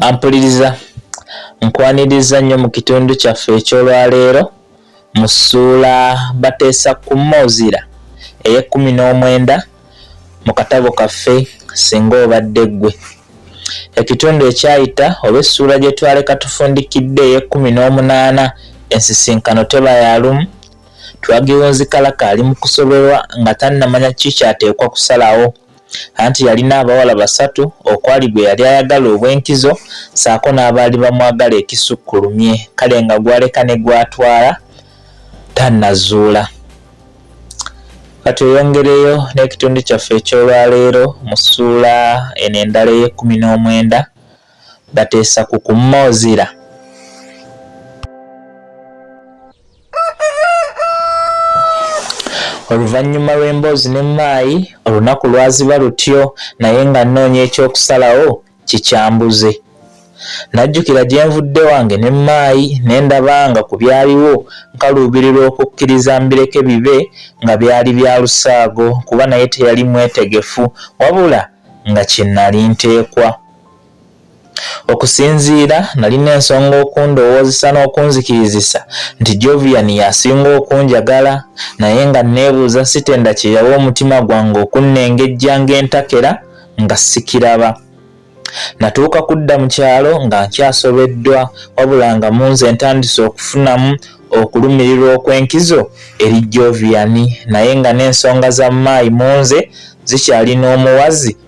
ampuliriza nkwaniriza nnyo mu kitundu kyaffe eky'olwaleero mu ssuula bateesa ku mozira ey'ekkumi n'omwenda mu katabo kaffe singa obadde ggwe ekitundu ekyayita oba essuula gye twaleka tufundikidde ey'ekkumi n'omunaana ensisinkano teba ya lumu Twagiwunzi Kalaka ali mu kusoberwa nga tannamanya kiki ky'ateekwa kusalawo anti yalina abawala basatu okwali gwe yali ayagala obw'enkizo ssaako n'abaali bamwagala ekisukkulumye kale nga gw'aleka ne gw'atwala tannazuula. Ka tweyongereyo n'ekitundu kyaffe eky'olwaleero mu ssuula eno endala ey'ekkumi n'omwenda bateesa ku kumma ozira. oluvannyuma lw'emboozi ne maayi olunaku lwaziba lutyo naye nga nnoonya eky'okusalawo kikyambuze najjukira gye nvudde wange ne maayi ne ndaba nga ku byaliwo nkaluubirirwa okukkiriza mbireke bibe nga byali bya lusaago kuba naye teyali mwetegefu wabula nga kye nali nteekwa Okusinziira, nalina ensonga okundowoozesa n'okunzikirizisa nti Jovian y'asinga okunjagala, naye nga nneebuuza sitenda kye yawa omutima gwange okunnengejja ng'entakera nga sikiraba. Natuuka kudda mu kyalo nga nkyasobeddwa wabula nga mu nze ntandise okufunamu okulumirirwa okw'enkizo eri Jovian naye nga n'ensonga za Maayi mu nze zikyali n'omuwazi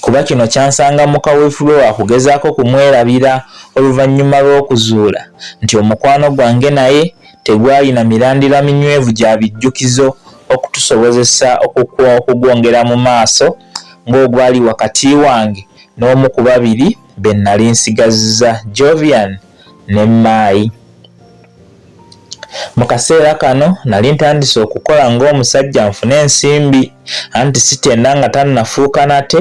kuba kino kyansanga mu kaweefube wa kugezaako kumwerabira oluvannyuma lw'okuzuula nti omukwano gwange naye tegwalina mirandira minywevu gya bijjukizo okutusobozesa okugwongera mu maaso ng'ogwali wakati wange n'omu ku babiri be nnali nsigazza, Jovian ne Maayi. Mu kaseera kano nali ntandise okukola ng'omusajja nfune ensimbi anti sitenda nga tannafuuka nate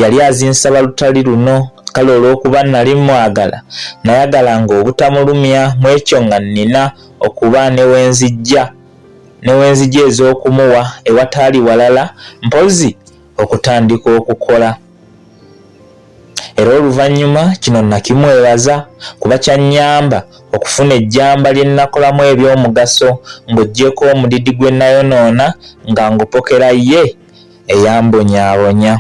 yali azinsaba lutali luno kale olw'okuba nali mmwagala nayagalanga obutamulumya mu ekyo nga nnina okuba ne we nzijja ne we nzija ez'okumuwa ewataali walala mpozzi okutandika okukola. era oluvannyuma kino nakimwebaza kuba kyannyamba okufuna ejjamba lye nnakolamu eby'omugaso ng'oggyeko omudidi gwe nayonoona nga ngupokera ye eyambonyaabonya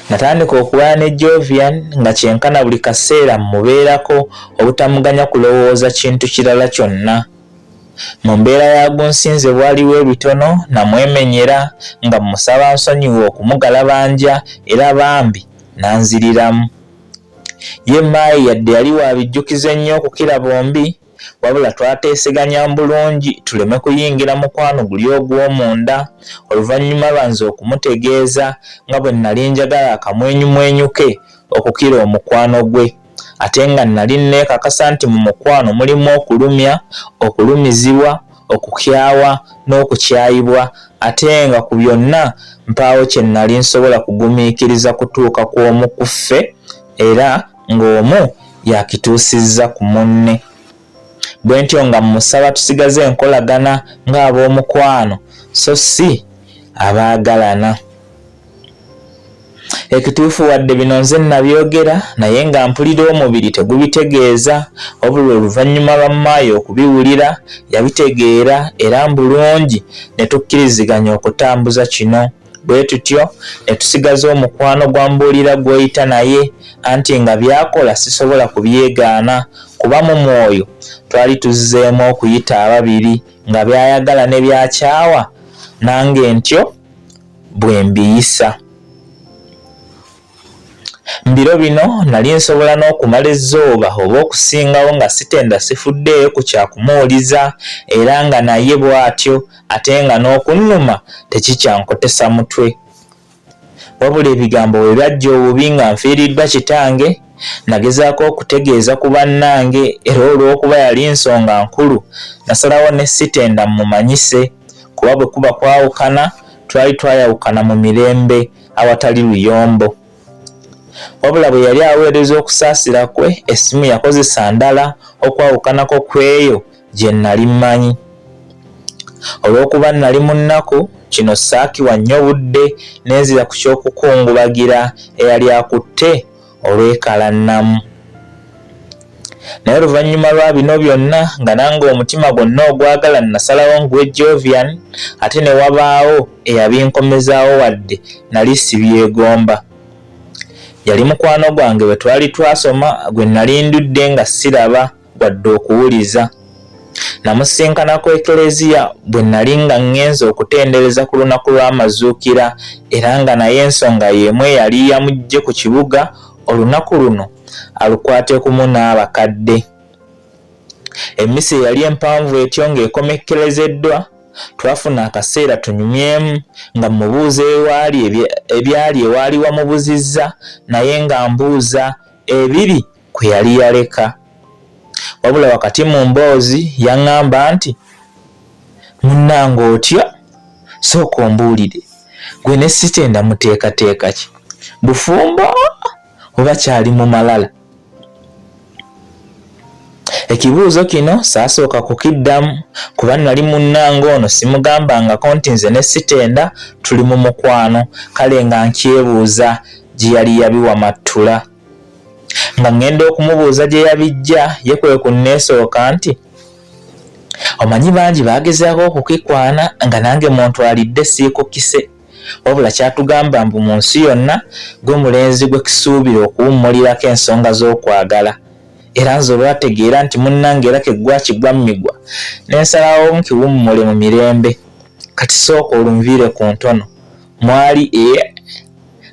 natandika okulwana ne jovian nga kyenkana buli kaseera mmubeerako obutamuganya kulowooza kintu kirala kyonna Mu mbeera ya Gunsinze bwaliwo ebitono namwemenyera nga mmusaba ansonyiwe okumugalabanja era bambi n'anziriramu. Ye Maayi yadde yali wa bijjukizo ennyo okukira bombi wabula twateeseganya bulungi tuleme kuyingira mukwano guli ogw'omunda oluvannyuma lwa nze okumutegeeza nga bwe nnali njagala akamwenyumwenyu ke okukira omukwano gwe. ate nga nnali nneekakasa nti mu mukwano mulimu okulumya, okulumizibwa, okukyawa n'okukyayibwa ate nga ku byonna mpaawo kye nnali nsobola kugumiikiriza kutuuka ku omu ku ffe era ng'omu yakituusizza ku munne. Bwe ntyo nga mmusaba tusigaze enkolagana ng'ab'omukwano so si abaagalana. Ekituufu wadde bino nze nabyogera naye nga mpulira omubiri tegubitegeeza wabula oluvannyuma lwa maayi okubiwulira yabitegeera era mbulungi ne tukkiriziganya okutambuza kino bwe tutyo ne tusigaza omukwano gwa mbuulira gw'oyita naye anti nga byakola sisobola kubyegaana kuba mu mwoyo twali tuzzeemu okuyita ababiri nga byayagala ne byakyawa nange ntyo bwe mbiyisa. Mu biro bino nali nsobola n'okumala ezzooba oba okusingawo nga sitenda sifuddeeyo ku kya kumuwuliza era nga naye bw'atyo ate nga n'okunnuma tekikyankotesa mutwe. Wabula ebigambo bwe byajja obubi nga nfiiriddwa kitange, Nagezaako okutegeeza ku bannange era olw'okuba yali nsonga nkulu nasalawo ne sitenda mmumanyise kuba bwe kuba kwawukana twali twayawukana mu mirembe awatali luyombo. Wabula bwe yali aweereza okusaasira kwe essimu yakozesa ndala okwawukanako ku eyo gye nnali mmanyi. Olw'okuba nnali mu nnaku kino saakiwa nnyo budde ne nzira ku ky'okukungubagira eyali akutte olwekalannamu. Naye oluvannyuma lwa bino byonna nga nange omutima gwonna ogwagala nasalawo nguwe Jovian ate ne wabaawo eyabinkomezaawo wadde nali sibyegomba. Yali mukwano gwange bwe twali twasoma gwe nali ndudde nga siraba. wadde okuwuliza. Namusinkana ku Ekleziya bwe nnali nga ŋŋenze okutendereza ku lunaku lw'amazuukira era nga naye ensonga y'emu eyali yamuggye ku kibuga olunaku luno alukwatekumu n'abakadde. Emmisa eyali empanvu etyo ng'ekomekkerezeddwa, twafuna akaseera tunyumyemu nga mmubuuza ewaali ebyali ewaali wamubuzizza naye nga mbuuza ebiri kwe yali yaleka wabula wakati mu mboozi yaŋŋamba nti munnanga otya sooka ombuulire gwe ne sitenda muteekateeka ki bufumbo oba kyali mu malala ekibuuzo kino saasooka kukiddamu kuba nali munnanga ono simugambangako nti nze ne sitenda tuli mu mukwano kale nga nkyebuuza gye yali yabiwa mattula nga ŋŋenda okumubuuza gye yabijja ye kwe ku nneesooka nti omanyi bangi baagezaako okukikwana nga nange muntu alidde siikukise wabula kyatugamba mbu mu nsi yonna gwe mulenzi gwe kisuubira okuwummulirako ensonga z'okwagala era nze olwategeera nti munnange era keggwakigwa mmigwa n'ensalawo nkiwummule mu mirembe kati sooka olunviire ku ntono mwali e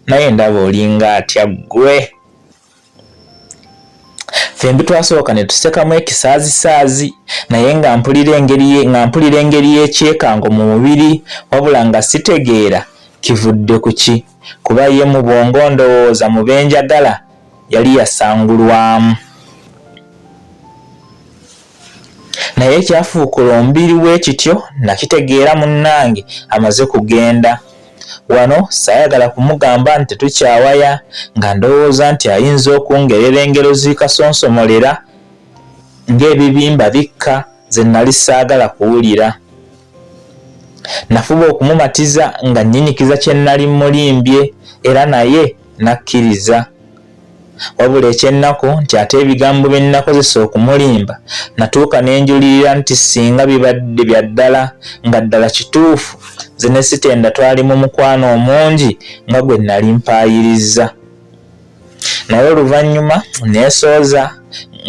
naye ndaba olinga atya ggwe fembi twasooka ne tusekamu ekisaazisaazi naye nga mpulira engeri nga mpulira engeri y'ekyekango mu mubiri wabula nga sitegeera kivudde ku ki kuba ye mu bwongo ndowooza mu benjagala yali yasangulwamu Naye ekyafuukula omubiri bwe kityo nnakitegeera munnange amaze kugenda. Wano ssaayagala kumugamba nti tetukyawaya nga ndowooza nti ayinza okungerera engero zikasonsomolera ng'ebibimba bikka ze nnali ssaagala kuwulira. Nafuba okumumatiza nga nnyinyikiza kye nnali mmulimbye era naye n'akkiriza. Wabula eky'ennaku nti ate ebigambo bye nnakozesa okumulimba natuuka ne njulirira nti ssinga bibadde bya ddala nga ddala kituufu nze ne Sitenda twali mu mukwano omungi nga gwe nnali mpaayirizza. Naye oluvannyuma nneesooza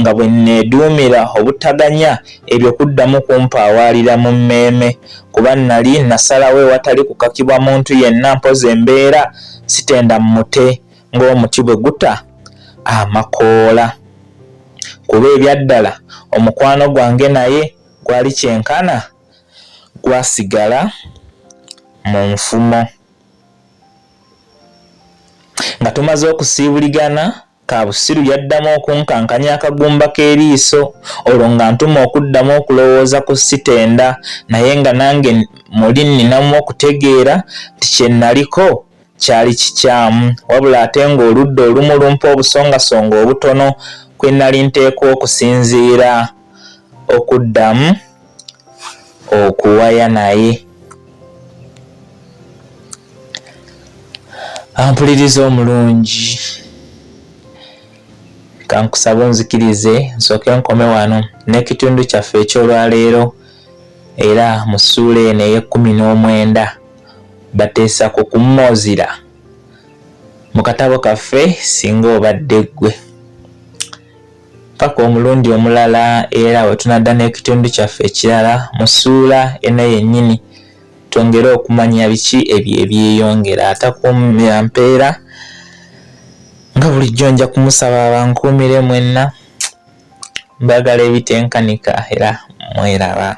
nga bwe nneeduumira obutaganya ebyo kuddamu kumpaawaalira mu mmeeme kuba nnali nasalawo ewatali kukakibwa muntu yenna mpozzi embeera Sitenda mmute ng'omuti bwe guta amakoola kuba ebyaddala omukwano gwange naye gwali kyenkana gwasigala mu nfumo nga tumaze okusiibuligana kabusiru yaddamu okunkankanya akagumba k'eriiso olwo nga ntuma okuddamu okulowooza ku sitenda naye nga nange muli nninamu okutegeera nti kye nnaliko Kyali kikyamu, wabula ate ng'oludda olumu lumpa obusongasonga obutono kwe nnali nteekwa okusinziira okuddamu okuwaya naye. Ampuliriza omulungi, kankusaba onzikirize nsooke nkome wano n'ekitundu kyaffe eky'olwaleero era mu ssuula eno ey'ekkumi n'omwenda. bateesa ku kummoozira mu katabo kaffe singa obadde ggwe paka omulundi omulala era we tunadda n'ekitundu kyaffe ekirala mu ssuula eno yennyini twongere okumanya biki ebyo ebyeyongera atakuumira mpeera nga bulijjo nja kumusaba abankuumire mwenna mbagala ebitenkanika era mweraba